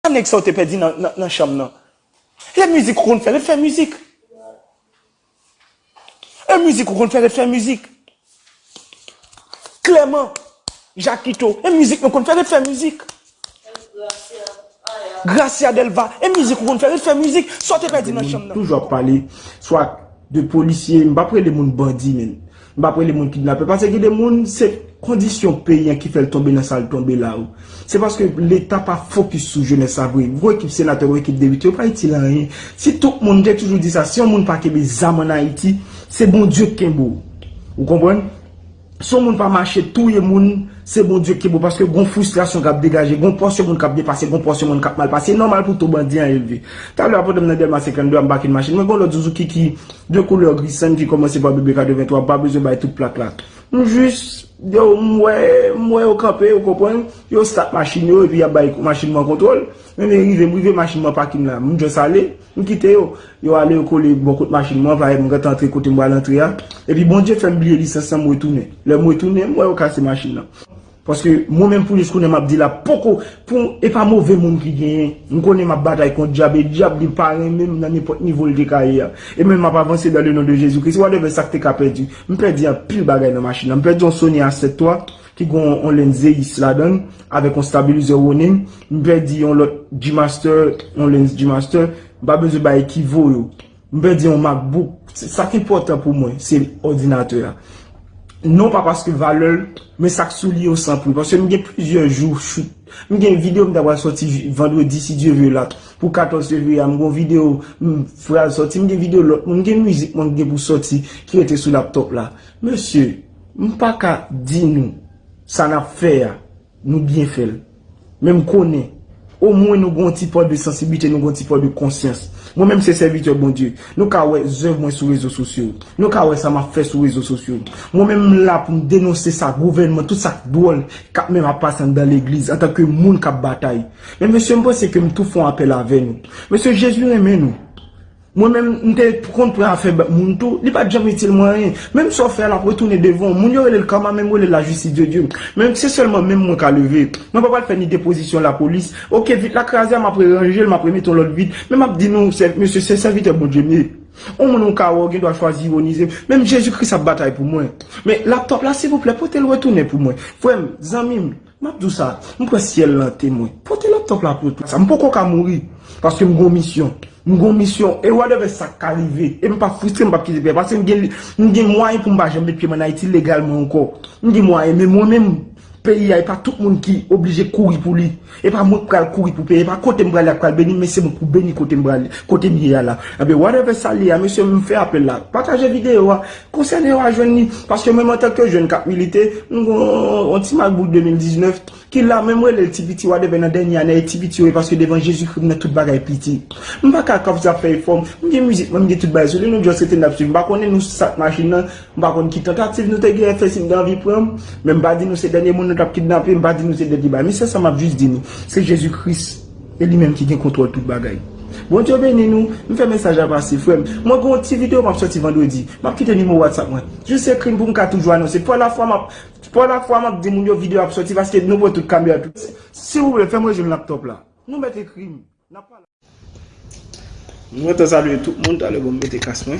Sa nèg sa yo te pèdi nan chanm nan. Lè mizik ou konn fè ret fè mizik. Lè mizik ou konn fè ret fè mizik. Klèman, Jakito, lè mizik nou konn fè ret fè mizik. Gracia Delva, lè mizik ou konn fè ret fè mizik. Sa w te pèdi nan chanm nan. Toujou ap pale swa de polisye, m pa p rele moun bandi men. M pap rele moun kidnapè paske gen de moun se kondisyon peyi an ki fè l tonbe nan sa l tonbe la o. Se paske leta pa fokis sou jenès la vre. Gwo ekip senatè, gwo ekip depite yo pa itil anyen. Si tout moun, m te toujou di sa, si yon moun pa kenbe zam an Ayiti, se Bondye k kenbe w. Ou konprann? Si yon moun pa mache touye moun, se Bondye k kenbe w paske gon fristrasyon k ap degaje, gon pòsyon moun k ap depase, gon pòsyon moun k ap mal pase. E nòmal pou to bandi an elve. Talè a pandan m nan Dèlma 52 a m pake nan machin mwen gen yon lòt zouzouki ki De koulè gri sann ki kòmanse pa BB 83 pa bezwen bay tout plak la. M jis yo m wè m wè yo kanpe ou konprann, yo start machin yo epi y ap bay machin mwen kontwòl. Men men rive m rive machin mwen pakin la. M just ale, m kite yo. Yo ale yo kole bò kot machin mwen, paret m gentan antre kote m pral antre a. Epi Bondye fè m bliye lisans lan m retounen. Lè m retounen, m wè yo kase machin lan. Paske mwen menm pou jis kounye map di la poko pou e pa move moun ki genyen. M konnen map batay kont dyab e dyab li pa renmen m nan nenpòt nivo l te ka ye a. E men map avanse dan le non de Jezi Kris whatever sak te ka pèdi. M pèdi anpil bagay nan machin nan. M pèdi yon Sony a 7 twa ki gon yon lenn Zeiss ladann avèk yon stabilizer Ronin. M pèdi yon lòt G-Master yon lenn G-Master. M pa bezwen bay ki vo yo. M pèdi yon MacBook. Sa ki enpòtan pou mwen, se òdinatè a. Non pa paske valè l, men sa k sou li yo san pri. Paske m gen plizyè jou shoot. M gen videyo m ta pral soti vandredi si Dye ve la. Pou 14 fevriye a, m gen yon videyo m pral soti. M gen videyo lòt moun. M gen mizik mwen m gen pou soti ki rete sou laptop la. Mesye, m pa ka di nou sa n ap fè a. Nou byen fèl. Men m konnen. O mwen nou gon ti pò de sansiblite, nou gon ti pò de konsyans. Mwen menm se sèvitè Bondye. Nou ka wè zèv mwen sou rezo sosyo. Nou ka wè sa map fè sou rezo sosyo. Mwen menm m la pou m denonse sa gouvènman, tout sa k dwòl kap menm ap pase anndan legliz antan ke moun kap batay. Men mesye m panse ke m tou fon apèl avè nou. Mesye Jezi renmen nou. Mwen menm m te konn pran afè bèk moun tou, li pat janm itil mwen anyen. Menm sa w fè a lap retounen devan w. Moun yo rele l karma men m rele l la justice de Dieu. Men se sèlman men m mwen ka leve. Mwen pa pral fè ni depozisyon lapolis. Ok vit la kraze a map reranje l map remete yon lòt vit. Men map di nou mesye se sèvitè Bondye m ye. On moun ou ka wè ou gen dwa chwazi ironize m. Menm Jezi Kris ap batay pou mwen. Men laptop la silvouplè pote l retounen pou mwen. Frè m, zanmi m. Map di w sa, m kwè syèl lan temwen. Pote laptop la pou sa. M poko ka mouri paske m gon misyon. M gon misyon e whatever sak ka rive. E m pap fristre, m pap kite pè paske m gen m gen mwayen pou m pa janm met pye m an Ayiti legalman ankò. M gen mwayen men mwen menm peyi a e pa tout moun ki oblije kouri pou li. E pa mwen k pral kouri pou peyi, e pa kote m prale a k pral beni m men se mwen k pou beni kote m prale, kote m ye a la. Enben whatever sa l ye a mesye m fè apèl la. Pataje videyo a, Konsène yo a jwenn li, paske menm antanke jèn kap milite, m gen yon ti makbouk 2019 ki la men m rele l ti piti wa deven nan dènye ane e ti piti yo ye paske devan Jezikri m nan tout bagay piti. M pa ka kòmsi ap fè efò, m gen mizik mwen, m gen tout bagay sou li, nou just rete n ap swiv. M pa konnen nou si sa t machin nan, m pa konn ki tantativ nou te genyen fè si m gen anvi pran m, men m pa di nou se dènye moun nou t ap kidnape, m pa di nou se dènye bagay. Men sèl sa m ap jis di nou, se Jezikris. E li menm ki gen kontwòl tout bagay. Bondye beni nou, m fè mesaj la pase frèm. Mwen gen yon ti video map sòti vandredi. Map kite nimewo WhatsApp mwen. Jis ekrim poum ka toujou anonse. Pwa lafwa map Pwa lafwa map di moun yo video ap sòti paske nou pran tout kamera tout. Silvouplè fèm rejwenn laptop la. Nou mèt ekrim. Nap pale. M gentan salye tout moun talè bon m mete kas mwen.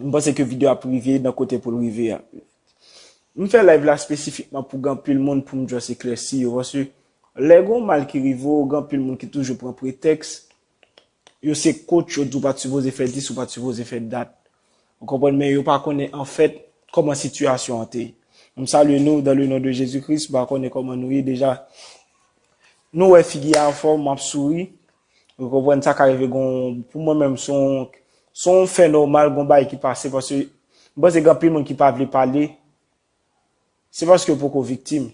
M panse ke video ap rive nan kote poul rive a. M fè live la spesifikman pou gen anpil moun poum just eklèsi yo paske lè gon mal ki rive w gen anpil moun ki toujou pran pretèks yo se coach yo di w pat sipoze fè dis ou pat sipoze fè dat ou konprann men yo pa konnen anfèt kòman sitiyasyon an te ye. M salye nou dan le non de Jezi Kris m pa konnen kòman nou ye deja nou wè figi a anfòm map souri Ou konprann sa ka rive gon pou mwen menm son son fè nòmal gon bay ki pase paske m panse gen anpil moun ki pa vle pale se paske yo poko viktim.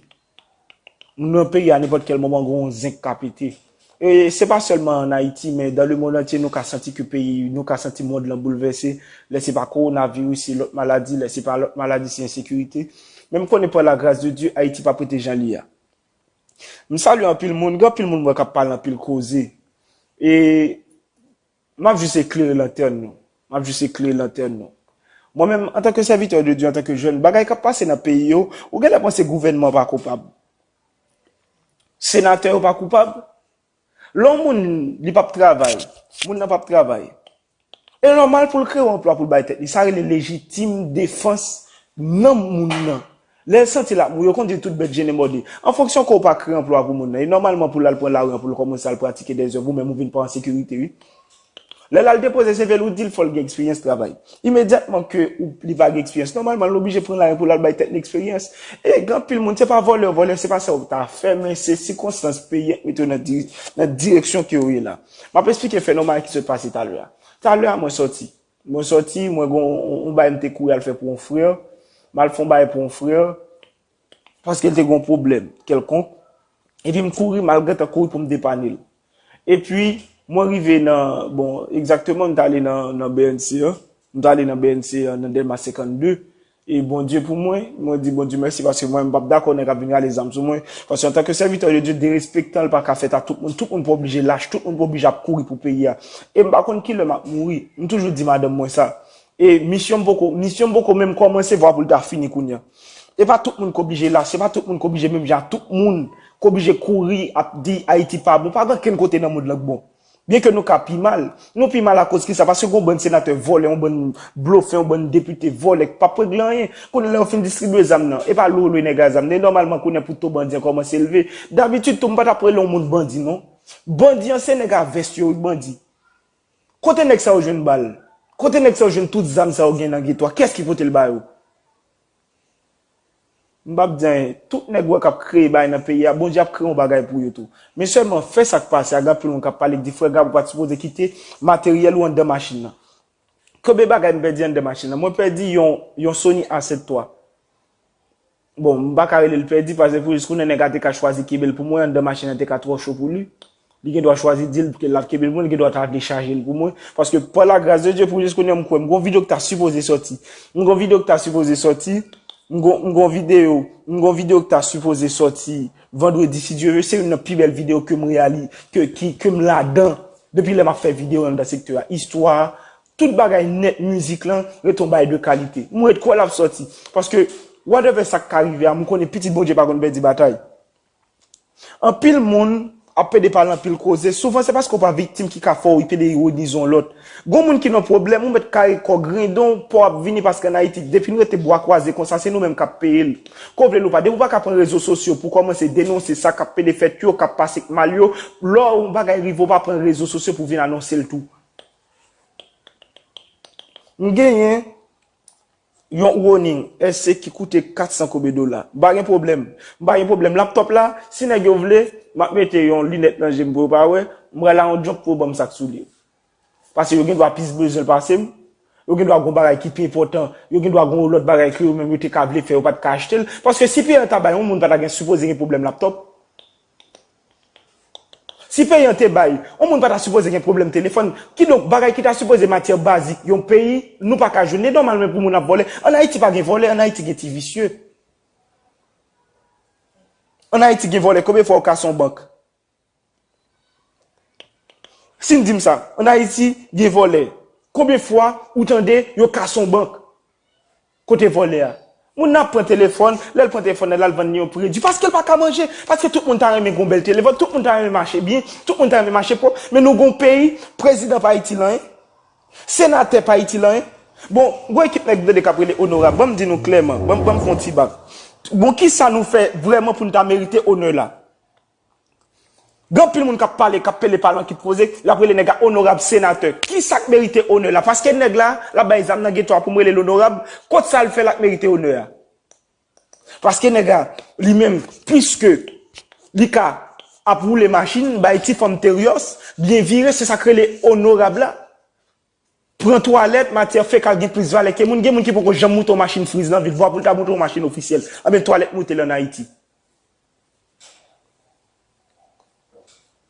Nou nan peyi a nenpòt kèl moman gon zenk ka pete. E se pa sèlman an Ayiti men dan le mond antye nou ka santi ke peyi nou ka santi mond lan boulvèse lè se pa kowonaviris se lòt maladi lè se pa lòt maladi se ensekirite men m konnen pa la gras de Dye Ayiti pap rete jan li a. M salye anpil moun, gen anpil moun m wè k ap pale anpil koze e m ap jis eklere lantèn nou, m ap jis eklere lantèn nou. Mwen menm, antanke sèvitè de Dye, antanke jèn, bagay k ap pase nan peyi yo, ou gen lè panse gouvènman pa koupab, senatè yo pa koupab, Lè yon moun li pap travay, moun nan pap travay, e nòmal pou l kreye yon anplwa pou l bay tèt li. Sa rele lejitim defans nanm moun nan. Lè l santi l ap mouri, yo konn di tout bèt jennen mòde. An fonksyon ke w pa kreye anplwa pou moun nan, e nòmalman pou l al pran lari an pou l kòmanse al pratike dèzèv, ou menm ou vin pa an sekirite wi. Lè l al depoze CV l, ou di l fò l gen eksperyans travay. Imedyatman ke ou li va gen eksperyans, nòmalman l oblije pran lajan pou l al bay tèt li eksperyans. E gen anpil moun, se pa vòlè, vòlè se pa sa yo ta fè, men se sikonstans peyi a ki mete yo nan di, nan direksyon ke yo ye la. M ap esplike fè nòmal ki sot pase talè a. Talè a mwen sòti. Mwen sòti, mwen gen yon, yon bagay m te kouri al fè pou yon frè. M al fè yon bagay pou yon frè. paske l te gen yon pwoblèm kèlkonk, epi m kouri, mal gentan kouri pou m depanne l. Epi, mwen rive nan, bon, egzakteman m t ale nan BNC an, m t ale nan BNC an nan Dèlma 52, e Bondye pou mwen, mwen di Bondye mèsi paske mwen menm m p ap dakò nèg ap vin rale zam sou mwen, paske antanke sèvitè de Dye, derespektan l pa ka fèt a tout moun, tout moun pa oblije lach, tout moun pa oblije ap kouri pou peyi a. E m pa konn ki lè m ap mouri, m toujou di madanm mwen sa, E misyon m poko, misyon m poko menm kòmanse vwa pou l ta fini kounya. E pa tout moun k oblije la, se pa tout moun k oblije menm jan ak tout moun k oblije kouri ap di Ayiti pa bon, pa gen okenn kote nan mond lan k bon. Byen ke nou ka pi mal, nou pi mal akoz kisa, paske gen yon bann senatè vòlè, yon bann blofè, yon bann depite vòlè k pap regle anyen. Kounye la yo fin distribye zam nan, e pa lwe lwe nèg la zam nan, e nòmalman kounye pou to bandi an kòmanse leve. Dabitid tou m pa tap rele yon moun bandi non. Bandi an se nèg a vès yo wi k bandi. Kote nèg sa yo jwenn bal? Kote nèg sa yo jwenn tout zam sa yo gen nan geto a? Kiyès ki pote l ba yo? M pa p di anyen. Tout nèg ou wè k ap kreye bagay nan peyi a, Bondye ap kreye yon bagay pou yo tou. Men sèlman, fè sa k pase a. Gen anpil moun k ap pale, k di, Frè Gab, ou pa t sipoze kite materyèl ou anndan machin nan. Konbyen bagay m pèdi anndan machin nan? Mwen pèdi yon Sony A7 III. Bon, m pa ka rele l pèdi pase pou jiskounen nèg a te ka chwazi kenbe l pou mwen anndan machin an te ka twò cho pou li. Li gen dwa chwazi di l l ap kenbe l pou mwen, li gen dwa ta vle chaje l pou mwen. Paske pa la gras de Dye pou jiskounen m kwè m gen yon videyo k ta sipoze sòti. M gen yon videyo k ta sipoze sòti, m gen yon, m gen yon videyo, m gen yon videyo k ta sipoze sòti vandredi si Dye ve. Se youn nan pi bèl videyo ke m reyali, ke, ki, ke m ladan depi lè m ap fè videyo anndan sektè a. Istwa Tout bagay nèt mizik lan ret on bagay de kalite. M ret kwè lap sòti. Paske whatever sak ka rive a m konnen pitit Bondye pa konn pèdi batay. Anpil moun ap pede pale anpil koze, souvan se paske w pa viktim ki ka fè w pede ironize on lòt. Gon moun ki nan pwoblèm ou mèt kare kò grendon w paw ap vini paske an Ayiti depi n rete bwa kwaze konsa se nou menm kap peye l. Ke w vle l ou pa depi w paka pran rezo sosyo pou w kòmanse denonse sa kap pede fèt yo kap pase k mal yo lò on bagay rive w pa pran rezo sosyo pou w vin anonse l tou. M genyen Yon Ronin SC ki koute 400 kobe dola m pa gen pwoblèm m pa gen pwoblèm laptop la si nèg yo vle map mete Yon linèt nan jem pou yo pa wè m pral a Yon jump pou yo banm sak souli pase yo gendwa plis bezwenl pasem yo gendwa gon bagay ki pi enpòtan yo gendwa gon lòt bagay ke yo menm yo te ka vle fè yo pat ka achtel paske si Pierre ta bay Yon moun pata gen sipoze gen pwoblèm laptop Si peyi an te bay, yon moun pa ta sipoze gen pwoblèm telefòn. Kidonk, bagay ki ta sipoze matyè bazik yon peyi, nou pa ka jwenn. Li nòmal menm pou moun ap vòlè. An Ayiti pa gen vòlè, an Ayiti gen ti visye. An Ayiti gen vòlè konbyen fwa ou kase yon bank? Si n di m sa, an Ayiti gen vòlè konbyen fwa ou tande yo kase yon bank? Kote vòlè a? Moun nan ap pran telefòn, lèl pran telefòn nan lal vann li yon predi paskel paka manje, paske tout moun ta renmen gen yon bèl telefòn, tout moun ta renmen mache byen, tout moun ta renmen mache pwòp, men nou gen yon peyi, prezidan pa itil anyen, senatè pa itil anyen, bon gon ekip nèg m tande kap rele onorab, banm di nou klèman, banm fon ti bak, bon kisa nou fè vrèman poun ta merite onè la? Gen anpil moun kap pale, kap pele pale an ki poze, lap rele nèg la onorab senatè. Kisak merite onè la? Paske nèg la, lap bay zam nan geto a poum relel onorab, kot sal fè lap merite onè a? Paske nèg la, li menm, pwiske li ka ap woule machin, bay ti fanm teryòs, byen vire, se sak rele onorab la? Pran twalèt, matyè fekal gen plis valè ke moun. Gen moun ki poko janm moute yon machin friz nan vil, vwa pou l ta moute yon machin ofisyèl. Anben, twalèt moute l an Ayiti.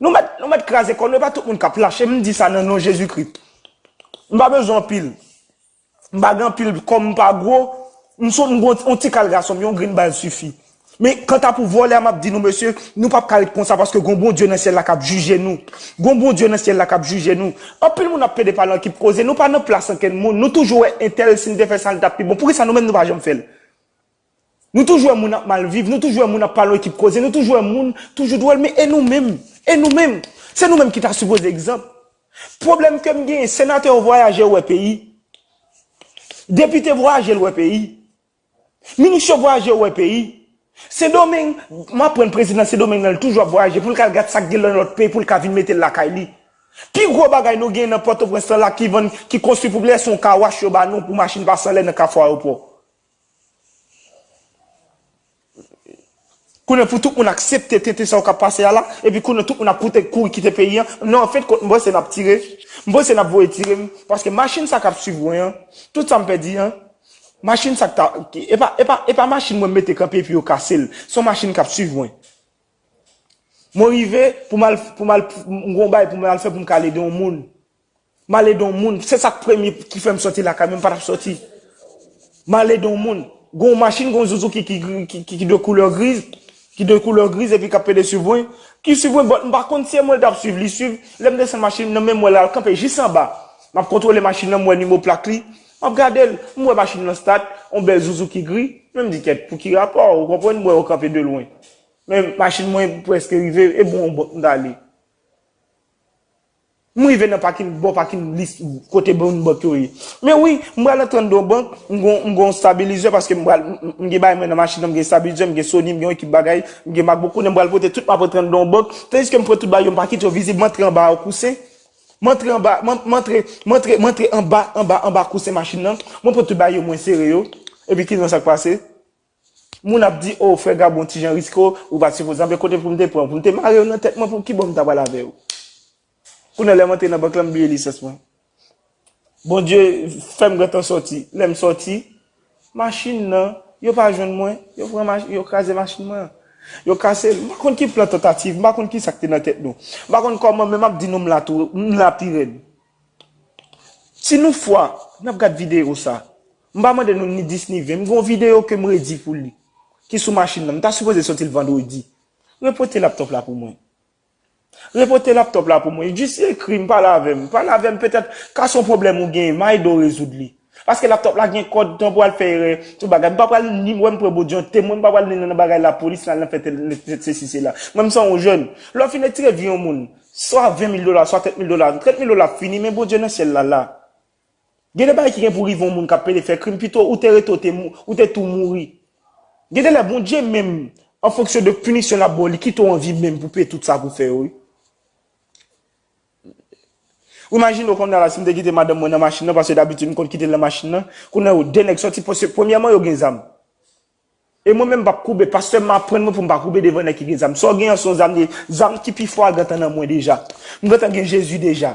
Nou mèt, nou mèt kraze kò nou, e pa tout moun k ap lache, m di sa nan non Jezikri. M pa bezwen anpil, m pa gen anpil, kò m pa gwo, m sou, m gen yon tikal gason m, yon grenn bal sifi. Men kanta pou vòlè a map di nou mesye, nou pap ka ret konsa paske gon Bondye nan syèl la kap jije nou. Gon Bondye nan syèl la kap jije nou. Anpil moun ap plede pale an kip koze, nou pa nan plas ankenn moun, nou toujou wè entèl sil te fè sa li tap pi bon, poukisa nou menm nou pa janm fèl? Nou toujou wè moun ap mal viv, nou toujou wè moun ap pale an kip koze, nou toujou wè moun toujou dwòl men e nou menm? E nou menm? Se nou menm ki ta sipoze egzanp. Pwoblèm kem genyen, senatè yo vwayaje yo wè peyi, depite vwayaje l wè peyi. Minis yo vwayaje yo wè peyi. Sendomeng, m aprann prezidan Sendomeng nan li toujou ap vwayaje pou l k al gad sa k gen lan lòt peyi pou l ka vin mete l lakay li. Pi gwo bagay nou genyen nan Pòtoprens lan la ki vann, ki konstwi pou blè se yon car wash yo ba nou pou machin pase anlè nan kafou ayopò. Kounye pou tout moun aksepte tenten sa yo kap pase a la epi kounye tout moun ap koute kouri kite peyi an nan an fen kont m panse nap tire m panse nap voye tire m paske machin sa kap swiv mwen an tout sa m pèdi an machin sa k ta epa epa epa machin mwen m mete kanpe epi yo kase l son machin kap swiv mwen mwen rive pou m al pou m al m gon bagay pou m al fè pou m ka al ede yon moun. Male don moun, se sak premye ki fèm sòti lakay mwen, m patap sòti. Male don moun, gon machin gon zuzuki ki de koulè griz, ki de koulè griz epi kap pede swiv mwen, ki swiv mwen but m pa konn si e mwen l tap swiv, li swiv, lèm desann machin nan menm wè lal kanpe jis anba, map kontwole machin nan m wè nimo plak li, map gadel, m wè machin lan stat, on bèl zuzuki gri, menm di kèt pou ki rapò, ou konprann m wè yo kanpe de lwen. Men machin mwen preske rive, e bon on but m tale. M rive nan pakin, bò pakin lis kote moun bank yo ye. Men wi, m pral antre anndan yon bank, m gen yon yon stabilizer paske m pral m gen bagay mwen nan machin nan, m gen stabilizer, m gen Sony, m gen yon ekip bagay, m gen MacBook kounye a m pral pote tout m ap antre anndan yon bank, tandiske m pran tout bagay yo m pa kite yo vizib, m antre anba yon kousen, m antre anba, m an, m antre, m antre, m antre anba, anba, anba kousen machin nan, mwen pran tout bagay yo mwen sere yo, epi ki nan sa k pase? Moun ap di oh frè Gabo ti jan riske w, ou pat sipoze anbe kote poum te pranw poum te marew nan tèt mwen pou kibò m ta pral avèw. Kounye lèm antre nan bank lan m bliye lisans mwen. Bondye fèm gentan sòti, lèm sòti machin nan yo pa jwenn mwen, yo pran machin, yo kraze machin mwen an. Yo kase l, m pa konn ki plan tantativ, m pa konn kisa k te nan tèt nou. M pa konn kòman men map di nou m la tou, m la pi rèd. Si nou fwa nap gad video sa. M pa mande nou ni 10 ni 20, m gen yon videyo ke m redi pou li, ki sou machin nan, m ta sipoze soti l vandredi. Repote laptop la pou mwen. Repote laptop la pou mwen. Jis ekri m, pale avè m. Pale avè m, petèt, ka s on pwoblèm ou genyen, m a ede w rezoud li. Paske laptop la gen kòd, tan pou al fè erè, tout bagay. M pa pral ni, wè m pran bo diyon, temwen, m pa pral ni nan bagay lapolis, nan al nan fè tèl, nan fè sesi sela. Mwen m san yon jèn. Lè w fin etire vi yon moun, swa 20 mil dola, swa 30 mil dola, 30 mil dola ap fini, men Bondye nan syèl la la. Gen de bagay ki gen pou rive yon moun kap pede fè krim pito ou te rete ou te ou te tou mouri. Gen de lè Bondye menm an fonksyon de pinisyon lap baw li kite w an vi menm pou peye tout sa pou fè yo wi. Ou imajine w kounya la si m te kite madanm mwen nan machin nan paske dabitid m konn kite l nan machin nan kounya yo 2 nèg sòti paske premyèman yo gen zam. E mwen menm m pap koube. Pastè m aprann mwen pou m pa koube devan nèg ki gen zam. Sa w gen an se yon zam liye. Zam ki pi fò a gentan nan mwen deja. M gentan gen Jezi deja.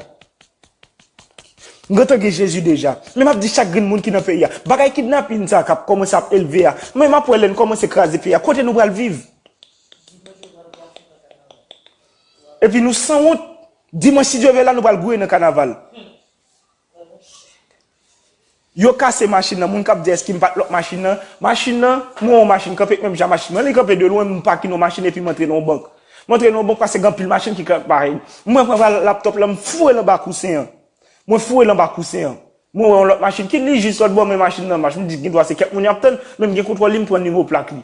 M gentan gen Jezi deja. Men m ap di chak grenn moun ki nan peyi a. Bagay kidnapin sa a k ap kòmanse ap elve a. Men m ap wè lè n kòmanse kraze peyi a. Kote nou pral viv? Epi nou sanwont. Dimanch si Dye vle la nou pral gouye nan kanaval. Yo kase machin nan moun kap di eske m pat lòk machin nan machin nan mwen wè yon machin kanpe menm jan machin mwen li kanpe de lwen m pakin yon machin epi m antre nan yon bank m antre nan yon bank paske gen anpil machin ki kanpe parèy m mwen pran va laptop lan m foure l anba kousen an mwen foure l anba kousen an mwen wè yon lòt machin ki li jis lòtbò men machin nan mach m di gendwa se kèk moun yap tann men m gen kontwòl li m pran nimewo plak li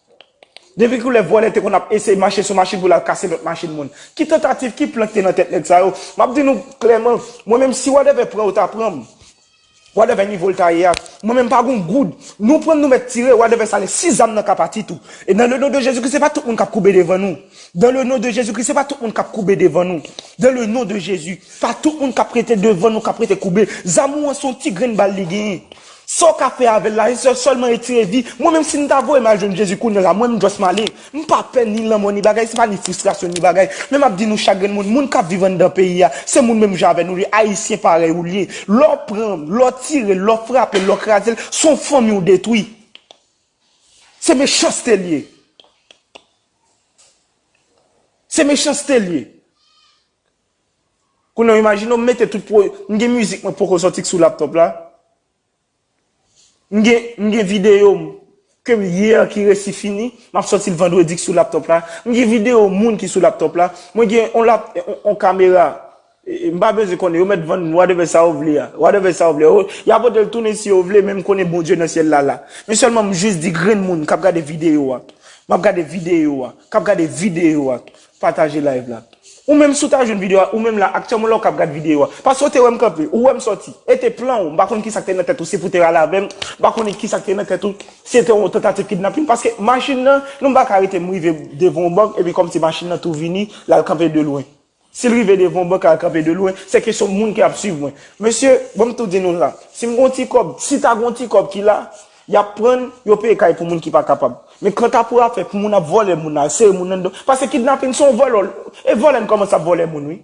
Depi kilè vòlè te konn ap eseye mache sou machin pou l al kase lòt machin moun? Ki tantativ, ki plan k te nan tèt nèg sa yo? M ap di nou klèman, mwen menm si wadèvè pran yo ta pran m. Wadèvè nivo l ta ye a, mwen menm m pa gen yon goud. Nou pran m nou mèt tire, wadèvè sa lè si zam nan ka pati tou. E dan le non de Jezikri se pa tout moun k ap koube devan nou. Dan le non de Jezikri se pa tout moun k ap koube devan nou. Dan le non de Jezi. Pa tout moun k ap rete devan nou k ap rete koube. Zam ou an se yon ti grenn bal li genyen. Sa w ka fè avè l la se sèlman etire vi. Mwen menm si m ta voye m al jwenn Jezi kounye la, mwen m just m ale. M pa pè ni lanmò ni bagay, se pa ni fristrasyon ni bagay. Men m ap di nou chak grenn moun, moun k ap viv anndan peyi a, se moun menm jan avè nou li, Ayisyen parèy ou li ye. Lè w pran l, lè w tire l, lè w frape l, lè w kraze l, se yon fanmi w detwi. Se mechanste l ye. Se mechanste l ye. Kounye w imajine w mete tout pwoj, m gen mizik mwen poko sòti k sou laptop la, m gen m gen videyo m ke m yè ki resi fini, m ap sòti l vandredi k sou laptop la, m gen videyo moun ki sou laptop la, mwen gen on lap on kamera, m pa bezwen konnen yo mèt vann wadèvè sa yo vle a, wadèvè sa yo vle a, y a pote l tounen si yo vle men m konnen Bondye nan syèl la la. Men sèlman m jis di grenn moun k ap gade videyo a, m ap gade videyo a, k ap gade videyo a, Pataje live la. Ou menm si w ta jwenn video a, ou menm la, aktyèlman la ou kap gad video a. Paske ou te wè m kanpe, ou wè m sòti. E te plan ou, m pa konn kisa k te nan tèt ou, si pou w te rale avè m, m pa konnen kisa k te nan tèt ou, si se te yon tantativ kidnapin, paske machin nan, nou m pa ka arete m rive devan yon bank epi kòmsi machin nan tou vini, l al kanpe de lwen. Si l rive devan yon bank l al kanpe de lwen, se kesyon moun ki ap swiv mwen. Mesye, ban m tou di nou sa, si m gen yon ti kòb, si ta gen yon ti kòb ki la, Yap prann, yo peye kay pou moun ki pa kapab. Men kanta pou afè pou moun ap vòlè moun la, sere moun anndan, pase kidnapin se yon vòlò, e vòlè n kòmanse ap vòlè moun wi.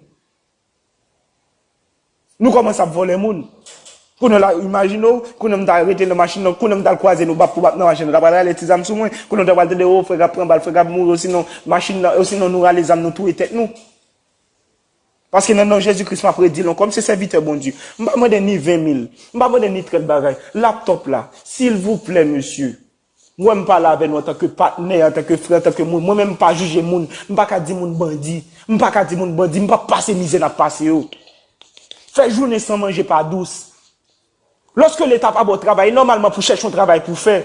Nou kòmanse ap vòlè moun. Kounye w la, imajine w, kounye m ta rete nan machin nan, kounye m tal kwaze nou bap pou bap nan machin nan, ta pral rale ti zam sou mwen, kounye w ta pral tande o frè k ap pran bal, frè k ap mouri osinon machin nan, osinon nou rale zam nou touye tèt nou. Paske nan non Jezi Kris map redi l ankò, m se sèvitè Bondye. M pa mande ni 20 mil, m pa mande ni trèt bagay. Laptop la, silvouplè mesye, wè m pale avè nou antanke patnè, antanke frè, antanke moun. Mwen menm m pa jije moun, m pa ka di moun bandi, m pa ka di moun bandi, m pap pase mizè nap pase yo. Fè jounen san manje pa dous. Loske leta pa baw travay e nòmalman pou chèch yon travay pou fè.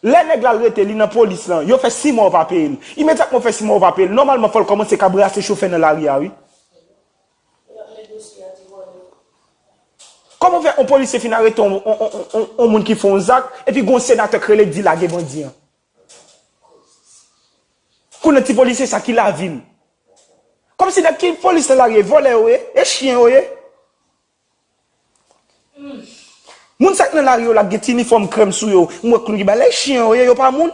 Lè nèg la al rete li nan polis lan, yo fè 6 mwa ou pa peye l. Imedyatman ou fè 6 mwa ou pa peye l, nòmalman fòl kòmanse ka brase chofè nan lari a wi. Kòman fè on polisye fin arete on on moun ki fè on zak epi gon senatè k rele k di lage bandi an. Kounye ti polisye sa ki lavi l. Kòmsi nèg ki polis nan lari e vòlè yo ye, e chyen yo ye. Moun sak nan lari yo la gen ti inifòm krèm sou yo m wè klou ki balèy chyen yo ye yo pa moun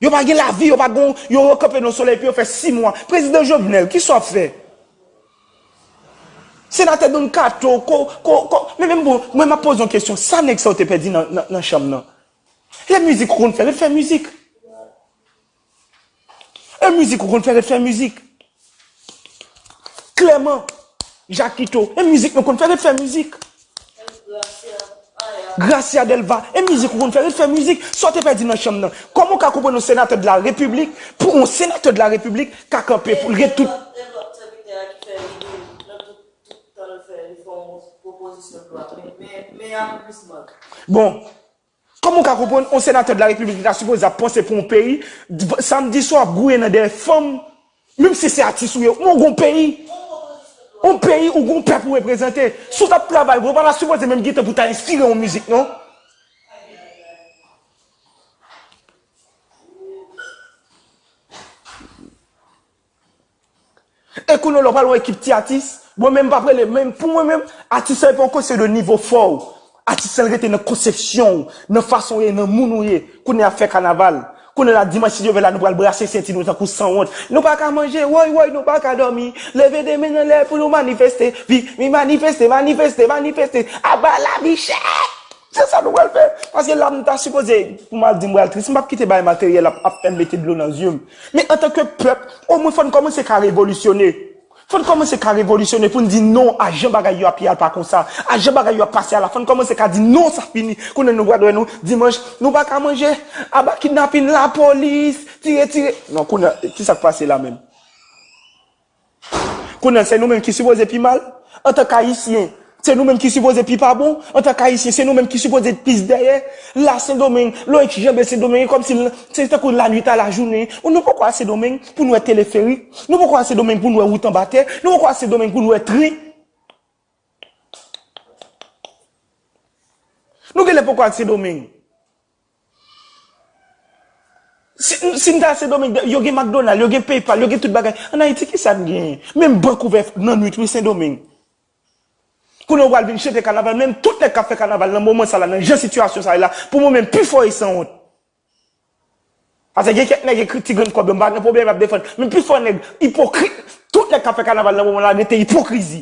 yo pa gen lavi yo pa gon yo yo kanpe nan solèy epi yo fè 6 mwa prezidan jovenel kisa wap fè senatè don kato ko ko ko men men bon mwen map poze yon kesyon sa nèg sa yo te pèdi nan nan chanm nan lè mizik yo konn fè ret fè mizik E mizik ou konn fè ret fè mizik. Clement Jakito e mizik nou konn fè ret fè mizik. Gracia Delva e mizik ou konn fè ret fè mizik. Sa w te pèdi nan chanm nan. Kòman w ka konprann yon senatè de la repiblik pou yon senatè de la repiblik ka kanpe pou l ret tout. Bon. Kòman ou ka konprann yon senatè de la repiblik ki ta sipoze ap panse pou yon peyi samdi swa ap gouye nan dèyè fanm menm si se atis ou ye men ou gen yon peyi yon peyi ou gen yon pèp ou reprezante si w tap travay vre ou pa ta sipoze menm gen tan pou ta enspire yon mizik non. E kounye w la w pral yon ekip ti atis, mwen menm m pap rele, men pou mwen menm, atis lan e pa yon kesyon de nivo fò w, atis lan rete nan konsepsyon w, nan fason w ye, nan moun ou ye, kounye a fè kanaval, kounye la dimanch si Dye vle la nou pral brase senti nou tankou sanwont, nou pa ka manje, woy woy nou pa ka dòmi, leve de men anlè pou nou manifeste, viv, mi manifeste, manifeste, manifeste, aba lavi chè! Se sa nou pral fè. Paske la m ta sipoze, pou m al di m pral tris, m p ap kite bagay materyèl ap ap fè m mete dlo nan zye m. Men antanke pèp, omwen fò n kòmanse ka revolisyone. Fò n kòmanse ka revolisyone pou n di non a jan bagay yo ap ye a l pa konsa. A jan bagay yo ap pase a la fò n kòmanse ka di non sa fini. Kounye nou pral wè nou dimanch nou pa ka manje, aba kidnapin, lapolis, tire tire. Non kounye ki sa k pase la menm? Kounye a se nou menm ki sipoze pi mal antan k ayisyen, se nou menm ki sipoze pi pa bon antan k ayisyen, se nou menm ki sipoze t plis dèyè la sendomeng loik janbe sendomeng e kòmsi l se tankou lanwit a lajounen nou poko a sendomeng pou n wè teleferik nou poko a sendomeng pou n wè wout anba tè nou poko a sendomeng pou n wè tren nou genlè poko a sendomeng. Si n ta al Sendomeng, yo gen McDonald, yo gen Paypal, yo gen tout bagay. An Ayiti, ki sa n genyen? Menm bank ouvè nan nwit wi Sendomeng. Kounye a ou pral vin chante kanaval, menm tout nèg k ap fè kanaval nan moman sa la, nan jan sitiyasyon sa ye la, pou mwen menm, pifò yo sanwont. Pase gen kèk nèg ekri ti grenn kòb yo, m pa gen pwoblèm, y ap defann. Men pifò nèg ipokrit. Tout nèg k ap fè kanaval nan moman la rete ipokrizi.